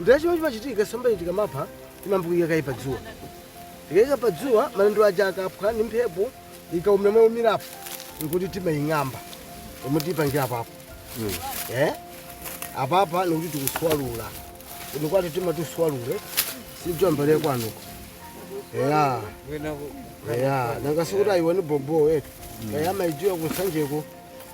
Ndiye chimene chimachitika nsombayi tikamapha timayamba kuika kaye pa dzuwa. Tikaika pa dzuwa malenda aja akaphwa ndi mphepo ikaumira momwe yaumirapo nkuti timaing'amba pomwe tiipangira apapo. Eh? Apapa nikuti tikuswalula. Kuno kwathu timati uswalule sidziwa mbale kwanuko. Eya. Eya. Nanga sikuti ayiwani bobo eti. Eya amaidziwa ku Nsanjeko.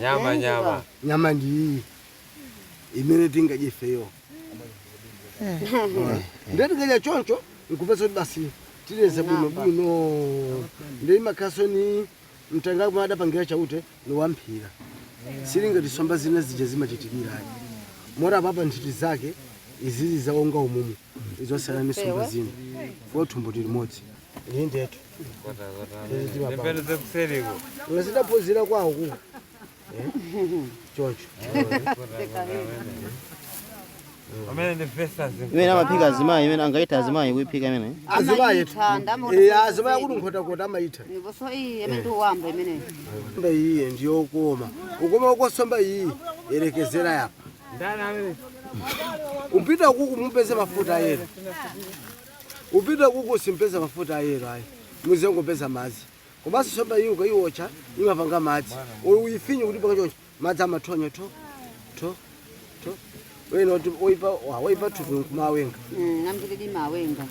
nyama nyama nyama ndi iyi imene tingadye ifeyo ndiye tikadya choncho nkupeza kuti basi tileze bwino bwino ndi imakhaso ni mtanga kumene adapangira Chauta ni wamphira siili ngati nsomba zina zija zimachitikira ayi moti apapa nthiti zake izizi zaonga umumu nzosiyana ni nsomba zina kwa thumbo ndi limodzi indetu ndidaphunzira kwawoko choncho imene amaphika azimayi imene angaithe azimayi kuiphika imene azimayitu Amaitha, ndamona Eh, kuti azimayi kuti Nkhotakota amaitha Ndiponso iyi imene ndiwamba imeneyi. nsomba iyiyi ndiyokoma ukoma ukosomba iyi yerekezera yapa upita uku kumupeze mafuta ayero Upita kuku simpeza mafuta ayero ayi. Muzingopeza madzi. Komanso nsomba iyi ukaiwotcha imapanga madzi. Olo uyifinye kuti panga choncho. Madzi amathonya tho. Tho. Tho. Wena oti oipa wa oipa thupi nkumawenga. Mm, ngambiridi imawenga.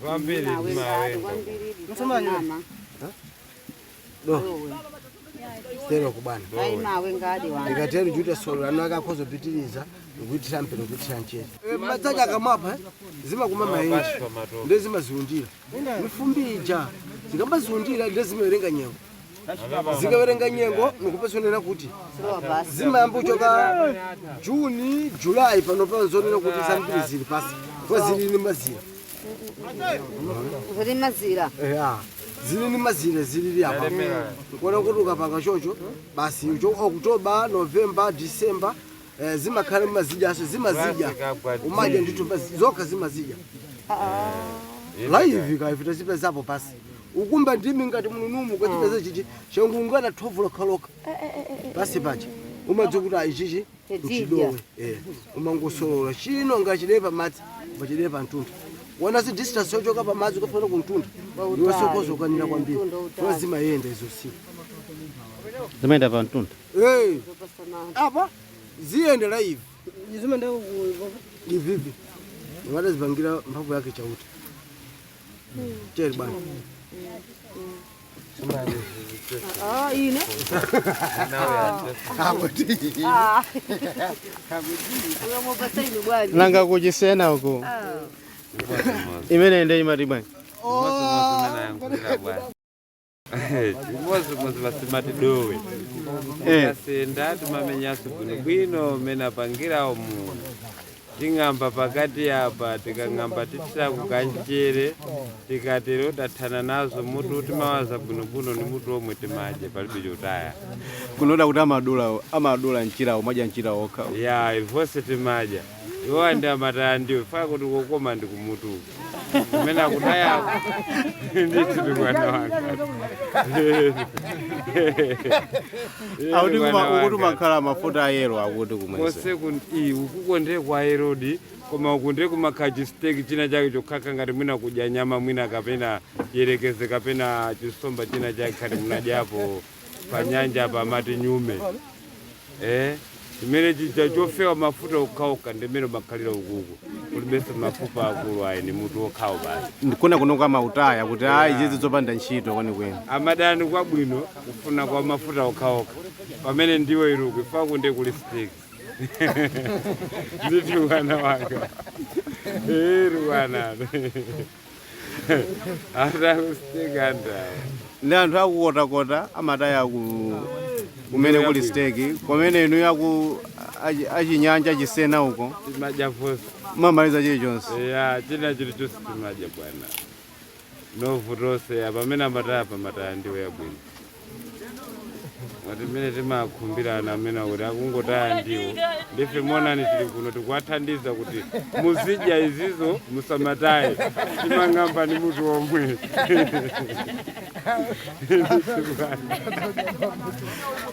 Ambiri Mawenga, mawe. ngambiri di Musoma nyuma. mama. do tero kubana ayi imawengadi wanga ndikatero juta solo lanu akakhoza kupitiriza ndikuitira mpeni kuithira nchere madzi aja akamaphwa eh, zimakumba maenje nde zimaziundira mifumbi ija zikamaziundira nde zimawerenga nyengo zikawerenga nyengo ndikupeza kunena kuti zilowa basi zimayamba kuchoka juni julayi pano panzonena kuti zambiri zili pansi kwa zili ni mazira Zili ni mazira. eya zili ni mazira zili apa kuona kuti ukapanga choncho basi ucho oktoba novemba disemba eh, zimakhala mazidyanso zimazidya umadya ndithu basi zokha zimazidya laivi kaifita zipezapo pansi ukumba ndimi ngati mununumu kwachipeza chichi changoungana thovu lokhalokha pansi paja umadziwa kuti ayi ichichi chidowe umangosolola chino ngachidee pamadzi ngachidee pamtunda wona si distance yochoka pamadzi kufana kumtunda ndiwesokozo ukanira kwambiri funa zimayenda izo si zimayenda pa mtunda Eh, apa ziyendera ivi ivivi adazipangira mphamvu yake Chauta cheri bwana Ah, ine. Ah. Mwaphata ine bwana. nanga kuchisena uku imene nde imati bwanji chimodzimodzi basi amati dowe Eh. asenda timamenyaso bwinobwino mmene apangirawo munthu Ting'amba pakati apa, tikang'amba tithira kamchere, tikatero tathana nazo. Mutu timawaza bwinobwino ndi mutu womwe timadya, palibe chotaya. Kunotu akuti amadula amadula mchira umadya mchira wokha. Ya, ife vonse timadya. Iwo nde amataya ndiwo, chifukwa kuti kokoma ndi kumutuku. kumene akutayako ndithu mwana wanga akuti kuma- akuti kumakhala mafuta ayera akuti kumwese konse kuti ukuko ndiye kwa herodi koma uku ndiye kumakhala chisiteki china chake chokhachokha ngati mwina kudya nyama mwina kapena yerekeze kapena chisomba china chake ngati munadyapo pa nyanjapa amati nyume eh chimene chija chofewa mafuta okhaokha ndimene umakhalira ukuku kulibenso mafupa akulu ayi ni mutu okhawo basi ndikuona kunoko amautaya kuti ayi izi zopanda ntchito kwenikweni amataya kwabwino kufuna kwa mafuta okhaokha pamene ndiwo ili uku ife ukuku ndi kuli steki ndithu mwana wanga iru wana atakusikandawa ndi anthu aku Nkhotakota amataya kumene kuli steki kumene inu yaku achi- achinyanja chisena uko timadya vonse Mumamaliza chilichonse ya china chilichonse timadya bwana vonse vonse ya pamene amataya amataya ndiwo yabwino ngati mmene timakhumbira amene akuti akungotaya ndiwo ndife monani tili kuno tikuwathandiza kuti muzidya izizo musamataye timang'amba ndi mutu omwe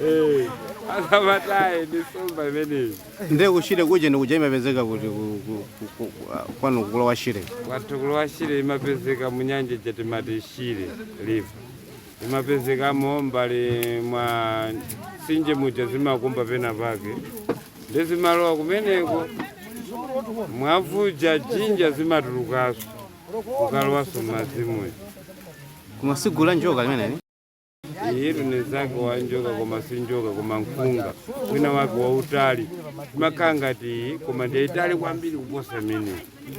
Eh, asamataye ndi nsomba imeneyi nde ku Shire kuja nde kuja imapezeka kuti ku- ku- ku- ku- ku- kwanu ku Lower Shire kwathu ku Lower Shire imapezeka munyanja ija timati Shire River zimapezekamo mbali mwa mtsinje muja zimakumba pena pake ndi zimalowa kumeneko mwamvula dzinja zimatulukaso kukalowaso mmadzi muja koma si gulu la njoka limeneli iyitu ndi mzake wa njoka koma si njoka koma nkhunga wina wake wautali imakhala ngati iyi koma ndi itali kwambiri kuposa imeneyi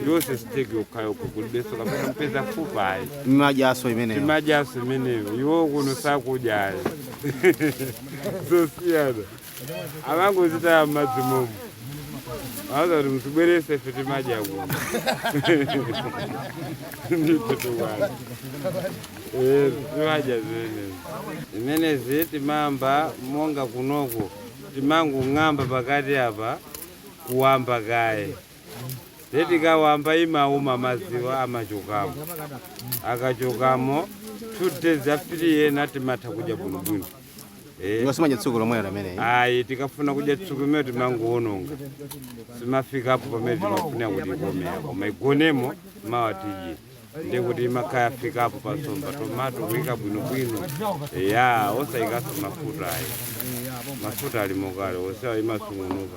yonse siteki yokhayokha, kulibenso kapena kupeza fupa ayi mumadyaso imeneyo timadyaso imeneyo iwo kuno sakudyayi zosiyana amangozitaya mmadzi momo adza kuti muzibwerese ife timadya kuno nditotukwana Eh, timadya zimenezi zimenezi timawamba monga kunoko timangong'amba pakati apa kuwamba kaye Ndiye tikawamba imauma madziwa amachokamo akachokamo two days after ena timatha kudya bwinobwino Eh, ngati simudya tsiku lomwe limeneli. ayi tikafuna kudya tsiku lomwelo timangoononga simafikapo pamene timafuna kuti ikomere koma igonemo mawa tidye ndiye kuti imakhala yafikapo pa nsomba tomato kuyika bwinobwino ya osayikaso mafuta ayi mafuta ali mokale onsewa imasungunuka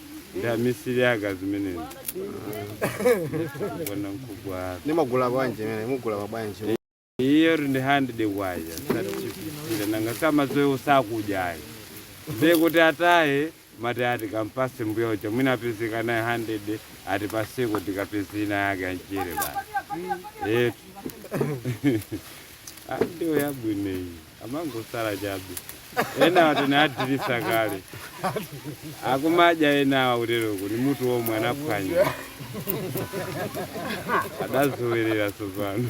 ndi amisiri ake a zimenezi bwana mkubwa mumagula bwanji imene mumagula bwanji iyo ndi handide kwacha satitchipitsira nanga samadziwa sakudyayi ndiye kuti ataye mati ati kampase mbuya uja mwina apezeka nayo handide ati pasiku tikapeza ina yake ya mchere basi eti ndiwo yabwino iyi amangosala chabe enawa tinadyeresa kale akumadya enawa kuteroko ni mutu womwe anaphwanya adazowerera tsopano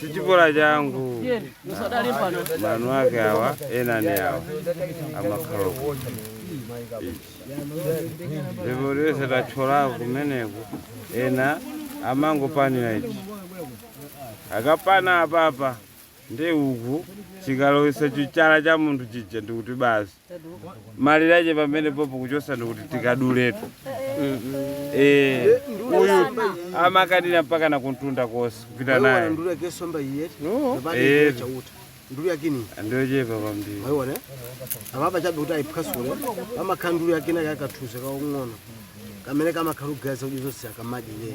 si chipolo changu manu ake awa ena ni awa amakhala uko. ndipo lyonse tathyolako kumeneko ena amangopanira ichi akapana apapa Nde uku chikalowesa chichala cha munthu chija ndikuti basi malire ache pamenepopo kuchosa ndikuti tikaduletu eh uyu amakanira mpaka na kumtunda konse kupita Wewe naye ndulu yake somba yiyeti. No. Ndabali Eh. yiyeti chauta. Ndulu yake ni. ndochepa kwambiri Waione. Apapa chabe kuti ayiphwasule. Amakhala ndulu yake na kakathuze kakang'ono. Kamene kamakhala kugaza ujuzo siyakamadye.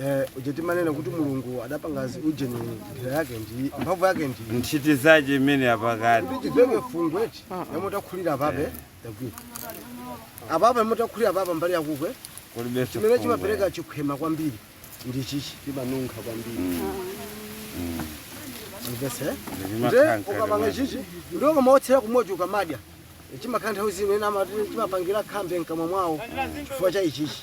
Eh, uje timanena kuti mulungu adapanga zi- uje ni njira yake ndi mphamvu yake ndi nthiti zace imene apakati kuti chiveke fungo eti yomwe takhulira apapa yagwira apapa yomwe takhulira apapa mbali yakukwe kulibenso chimene fungo. chimapereka chikhwema kwambiri ndi chichi chimanunkha kwambiri mvese Nde zimakhala nde ukapanga mkati chichi ndiwo kamaotsera kumodzi ukamadya chimakhala nthawi zino ena amati chimapangira khambe mkamwa mwawo chifukwa cha ichichi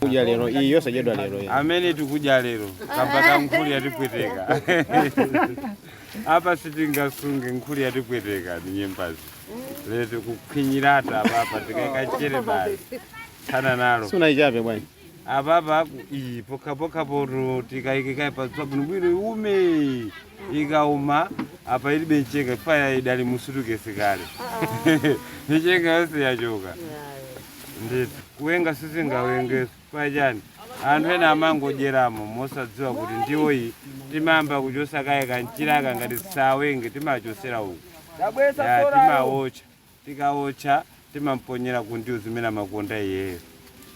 kudya lero iyi yonse idyedwa lero iyi amene tikudya lero kamba ka nkhuli yatipweteka apa sitingasunge nkhuli yatipweteka ndi nyembazi lero tikukhwinyirata apapa tikaika mchere basi tsana nalo sunaichape bwana apapa ku- iyi pokhapokhapo tikaike kaye padzuwa bwinobwino iume ikauma apa ilibe mchenga paja idali m'sutukesi kale michenga yonse yachoka ndithu kuwenga sizingawengenso kwachani anthu ena amangodyeramo mosadziwa kuti ndiwo iyi timayamba kuchotsa kaye kamchiraka ngati sawenge timachotsera uku ya timawotcha tikawotcha timamponyera ku ndiwo zimene amakonda iyeyo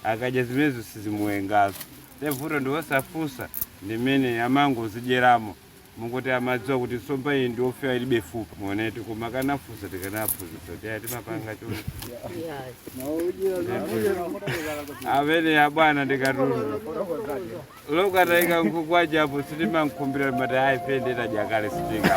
akadya zimenezo sizimuwenganso nde vuto ndi wosafunsa ndi amene amangozidyeramo mongoti amadziwa kuti nsomba iyi ndi yofewa ilibe fupa muonetu koma akanafunsa tikanawaphunzitsa kuti a timapanga chonchi amene abwana ndi katundu wokatayika nkhuku ajapo sitimamkhumbira mati ayi pende tajakale sitinga